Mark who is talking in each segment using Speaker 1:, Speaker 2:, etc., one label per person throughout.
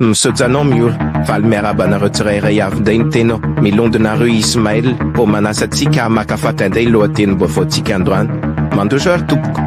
Speaker 1: Misaojanao Miora, valy miarahaba anareo tsirairay avy ndray ny tena ô, milondy nareo Ismaël ô manasa antsika hamakafaka indray ny lohatenim-baovaontsika androany. Mandroso ary tompoko.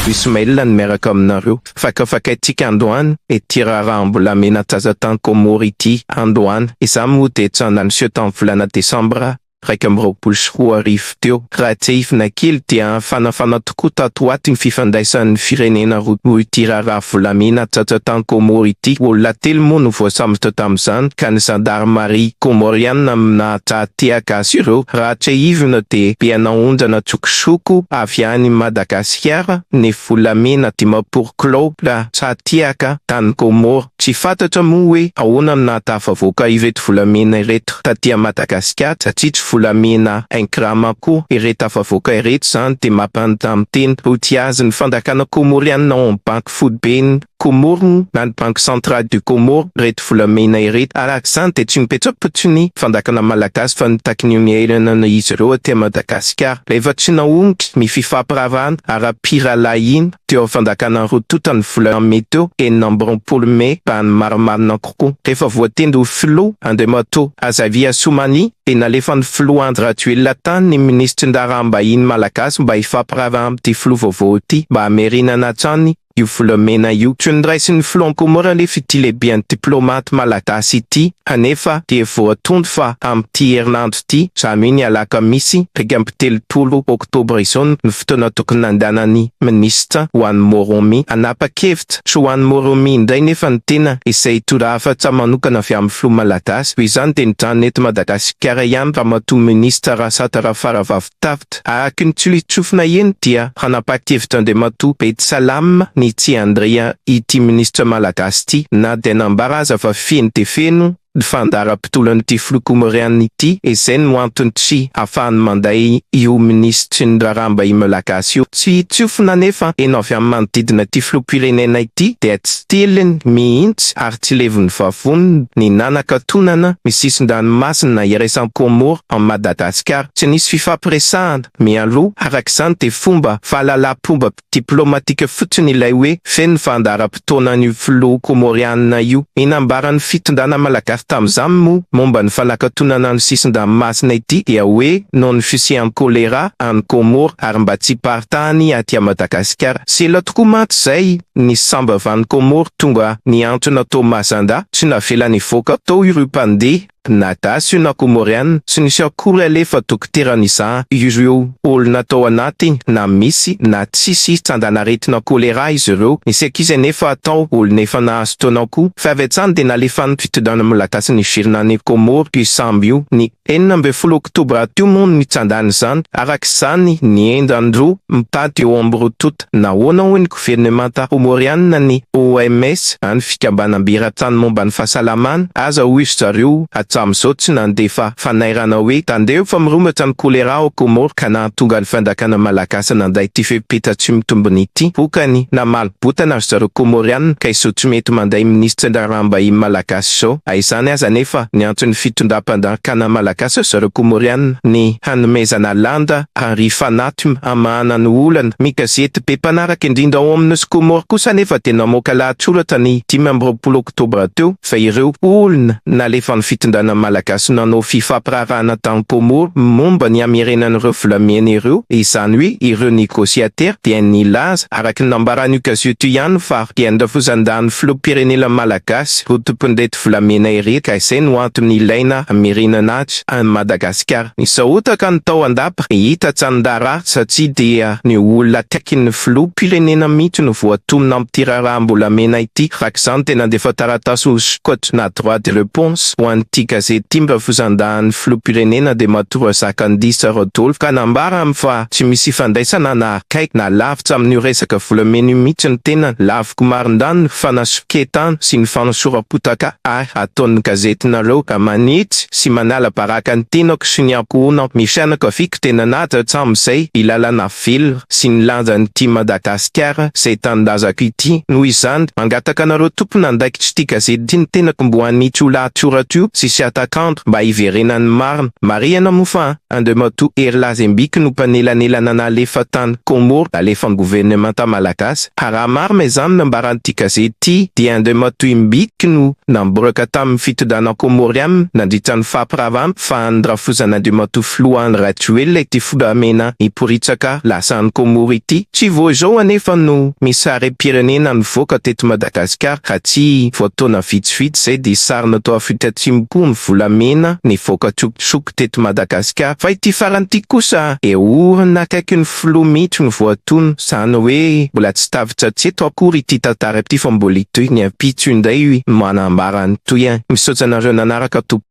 Speaker 1: Ismaël no miaraka aminareo, fakafakaintsika androany ity raharaham-bolamena an-tsazan-tany Comore ity androany, izaho moa dia tsy handany seho tamin'ny volana desambra iraika amby roapolo sy roa arivo teo. Raha tsehifina kely dia nifanafana tokoa tato ho ato ny fifandraisan'ny firenena roa noho ity raharaha volamena tratra tany Kômôro ity. Olona telo moa no voasambotra tamin'izany ka ny zandarimaria kômôriana nahatraha tehaka azy ireo. Raha tsehivina dia be anaondrana tsokosoko avy any Madagasikara ny volamena dimampolo kilaogra tra-tehaka tany Kômôro. Tsy fantatra moa hoe ahoana no nahatafavoaka ireto volamena ireto taty Madagasikara satria tsy volamena un gramme akory ireto tafavoaka ireto izany dia mampanontany tena ho tia azy ny fanjakana Komoriana ao amin'ny banky foiben'ny Komoro na ny banque centrale du Comore ireto volamena ireto araka izany dia tsy mipetrapotsy ny fanjakana Malagasy fa mitaky ny miainana izy ireo aty Madagasikara rehefa tsy nahomitry ny fifampiraharahana ara-pirahalahiana teo amin'ny fandakana roa tonta ny volana mey teo, enina amby roapolo mey, mba hanimarimarina kokoa. Rehefa voatendry ho filoha, Andriamatoa Azali Assoumani, dia nalefan'ny filoha Andry Rajoelina tany ny minisitry ny raharaham-bahiny malagasy mba hifampiraharaha amin'ity filoha vaovao ity mba hamerenana hatrany io volamena io. Tsy noraisin'ny filoha an-komora anefa ity lehiben'ny diplaomaty malagasy ity, kanefa dia voatondro fa amin'ity herinandro. Ity zany ny alakamisy iraika amby telopolo oktobra izao no fotoana tokony nandehanan'ny minisitra ho any Moroni hanapa-kevitra sy ho any Moroni indray nefa ny tena izay torohafatra manokana avy amin'ny filoha malagasy toy izany dia nijanona eto Madagasikara ihany ramatoa minisitra Rasata Rafaravavitafita araka ny tsofina eny dia hanapa-kevitra Andriamatoa Bedisalama Nitsiandria ity minisitra malagasy ity na dia nambara aza fa feno dia feno ny fandaharam-potoan'ity filoha Comoriana ity, izay no antony tsy hahafahany manday io minisitry ny raharaha mbahiny malagasy io. Tsy tsofina anefa heno avy amin'ny manodidina ity filoham-pirenena ity dia tsy tiliny mihitsy ary tsy levon'ny vavoniny ny nanakatonana ny sisin-dranomasina iraisan'i Comores an'i Madagasikara. Tsy nisy fifampiresahana mialoha, araka izany dia fomba fahalalam-pomba diplomatika fotsiny ilay hoe feno ny fandaharam-potoanan'io filoha Kômôriana io. Ny nambaran'ny fitondrana malagasy tamin'izany moa momba ny fanakatonana ny sisin-dranomasina ity dia hoe noho ny fisian'ny kôlera any Kômôro ary mba tsy hiparitahany aty a Madagasikara. Sy ela tokoa mantsy izay ny sambavany Kômôro tonga nihantona tao Mazandà tsy navelany hivoaka tao ireo mpandeha. Na Gasy io na Comorian tsy nisy akory aleha fa dokotera nizaha ireo olona tao anaty na misy na tsisy tsandan'aretina choléra izy ireo, nisy ankizy anefa tao olona efa nahazo taona koa fa avy hatrany dia nalefan'ny fitondrana malagasy niverina any Comore io sambo io ny enina ambin'ny folo oktobra teo moa no nitsandan'izany araka izany ny endan'ireo mpitady eo amin'ny roa tonta. Nahoana hoy ny governemanta Kômôriana ny OMS, any fikambanam-be eran-tany momba ny fahasalamana, aza hoy ry zareo hatramin'izao tsy nandefa fanairana hoe tandremo fa mirongatra ny kôlera ao Kômôro ka nahatonga ny fanjakana malagasy nandray ity fepetra tsy mitombina ity. Vokany, namaly botana ry zareo Kômôriana ka izao tsy mety mandray minisitra ny raharaham-bahiny malagasy izao. Na izany aza anefa, niantso ny fitondram-panjakana malagasy ry zareo Kômôriana ny hanomezana lanja ary Fanatm hamahana ny olana. Ny gazety be mpanaraka indrindra ao amin'ny nosy Comore kosa anefa dia namoaka lahatsoratra ny dimy amby roapolo oktobra teo fa ireo olona nalefan'ny fitondrana malagasy nanao fifampiraharahana tany Comore momba ny hamerenan'ireo volamena ireo izany hoe ireo negociateurs dia nilaza araka ny nambaran'io gazety io ihany fa dia andrafosandan'ny filoham-pirenena malagasy rodompin'ireto volamena ireto ka izay no antony ilaina hamerenana azy. any Madagasikara. Nisahotaka ny tao an-dapa nihita Tsandara satria dia ny olona akaikin'ny filoha mpirenena mihitsy no voatonona amin'ity raharaham-bolamena ity. Araka izany dia nandefa taratasy ho sokatra na droit de reponse ho an'ity gazety ity mba fizandahan'ny filoham-pirenena Andriamatoa Razakandisa Rodolphe ka nambarany fa tsy misy ifandraisana na akaiky na lavitra amin'io resaka volamena io mihitsy ny tenany. Tiko marindahy ny fanasoketana sy ny fanosoram-potaka ahy ataon'ny gazetinareo ka manitsy sy manala baraka ny tenako sy ny ankohonako, ny fianakaviako dia nanaja hatramin'izay ny lalàna velona sy ny lanjan'ity Madagasikara izay tanindrazako ity. Noho izany, mangataka anareo tompon'andraikitr'ity gazety ity ny tenako mbo hanitsy io lahatsoratra io sy sy hatak'andro mba hiverenan'ny marina. Marihana moa fa. Andriamatoa Hery Lazembiky no mpanelanelana nalefa tany Comores nalefan'ny governemanta malagasy. Raha marina izany nambaran'ity gazety ity dia Andriamatoa Imbiky no namboraka tamin'ny fitondrana Comoriana nandritra ny fampiravan'ny fahan'ny rafozan'Andriamatoa Filoha Andry Rajoelina ity volamena miporitsaka lasa any Comores ity. Tsy vao izao anefa no misy sarim-pirenena nivoaka teto Madagasikara raha tsy vao taona vitsivitsy izay dia sary natao Afrika Atsimo koa ny volamena nivoaka tsokitsoka. Manosque teto Madagasikara fa ity farany ity kosa dia orina akaiky ny filoha mihitsy no voatono izany hoe mbola tsy tafiditra hatreto akory ity tantara ity fa mbola hitohy ny ampitso indray no manambara ny tohiny. Misaotra anareo nanaraka tompoko.